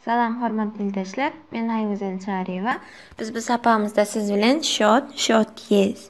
Salam hormatly ildeşler. Men Haýgüzel Çaryýewa. Biz bu sapagymyzda siz bilen shot, shot yes,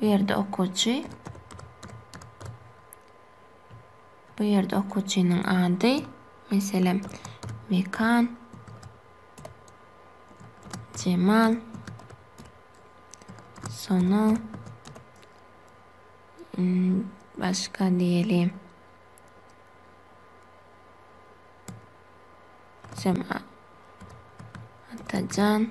Bu ýerde okuwçy. Bu ýerde okuwçynyň ady, meselem, Mekan, Jemal, Sona, hmm, başga diýelim. Sem Atajan.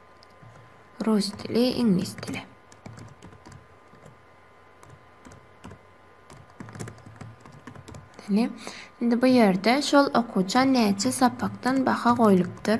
Rus dili, iňlis dili. Ine, indi bu ýerde şol okuwça näçe sapakdan baha goýlupdyr?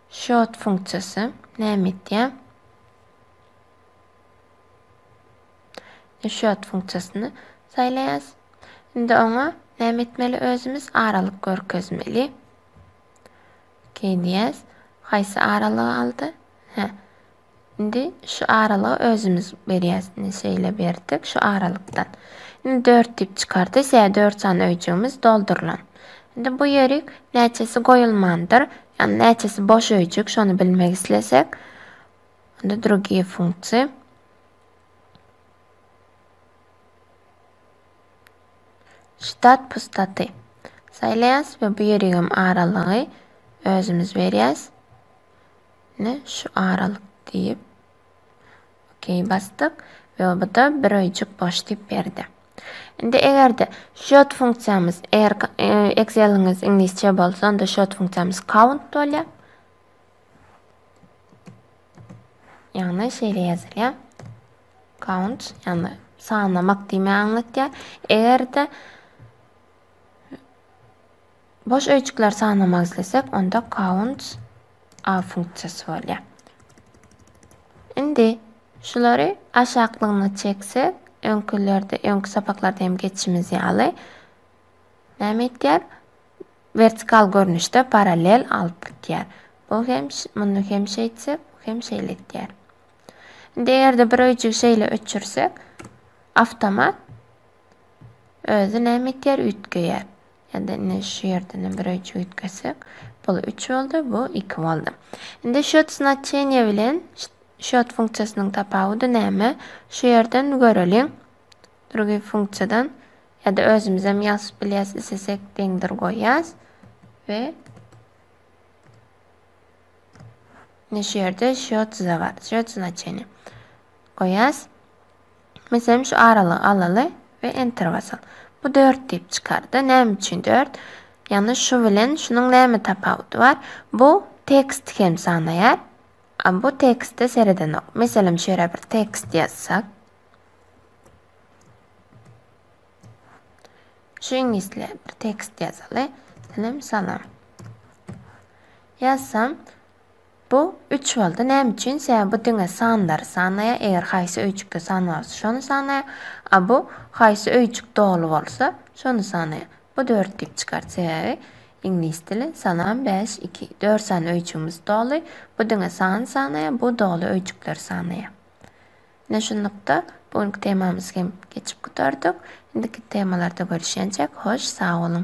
Short funksiýasy näme etýär? Short funksiýasyny saýlaýas. Indi oňa näme etmeli özümiz? Aralyk görkezmeli. Okey diýýäs. Haýsy aralygy aldy? Hä. Indi şu aralygy özümiz berýäs. Indi şeýle berdik şu aralykdan. Indi 4 diýip çykardy. Şeýle 4 sany öýjügimiz doldurylan. Indi bu ýerik näçesi goýulmandyr, ýagny näçesi boş öýjük, şony bilmek islesek, onda drugiýe funksiýa. Ştat pustaty. Saýlaýas we bu ýerigem aralygy özümiz berýäs. Ine şu aralyk diýip OK basdyk we oba-da bir öýjük boş diýip berdi. Indi eger-de shot funksiýamyz eger e, Excel-iňiz iňlisçe bolsa, onda shot funksiýamyz count bolýar. Ýagny şeýle ýazylýar. Count, ýagny sanlamak diýmä aňlatýar. Eger-de Boş öýjükleri sanamak islesek, onda counts a funksiýasy bolýar. Indi şulary aşaklygyna çeksek, öňkülerde, öňki sapaklarda hem geçişimiz ýaly näme etýär? Vertikal görnüşde parallel alyp gidýär. Bu hem muny hem şeýtsek, bu hem şeýle etýär. Indi eger-de bir öýjügi şeýle öçürsek, avtomat özi näme etýär? Üýtgeýär. Ýa-da indi şu ýerden bir öýjük üýtgetsek, bul üç boldy, bu iki boldy. Indi şot znaçeniýe bilen şot funksiýasynyň tapawudy näme? Şu ýerden göreliň. Drugiý funksiýadan ýa-da özümizem ýazyp bilýäs, islesek deňdir goýýas we şu ýerde şot za bar, şot znaçeniýe goýýas. Meselem şu aralygy alaly we enter basaly. Bu dört diýip çykardy. Näme üçin dört? Ýagny şu bilen şunuň näme tapawudy bar? Bu tekst hem sanaýar. A bu tekstde seredenok. Meselem şu ýere bir tekst ýazsak. Şu iňlisle bir tekst ýazaly. Salam salam. Ýazsam Bu üç boldy. Näme üçin? Sebäbi bu diňe sanlary sanaýar, eger haýsy öýjükde san bar bolsa, şony sanaýar, a bu haýsy öýjük doly bolsa, şony sanaýar. Bu dört diýip çykar, sebäbi iňlis dili salam, bäş, iki. Dört sany öýjügimiz doly. Bu diňe sany sanaýar, bu doly öýjükleri sanaýar. Ine şunlukda bu günki temamyzy hem geçip gutardyk. Indiki temalarda görüşýänçäk, hoş, sag boluň!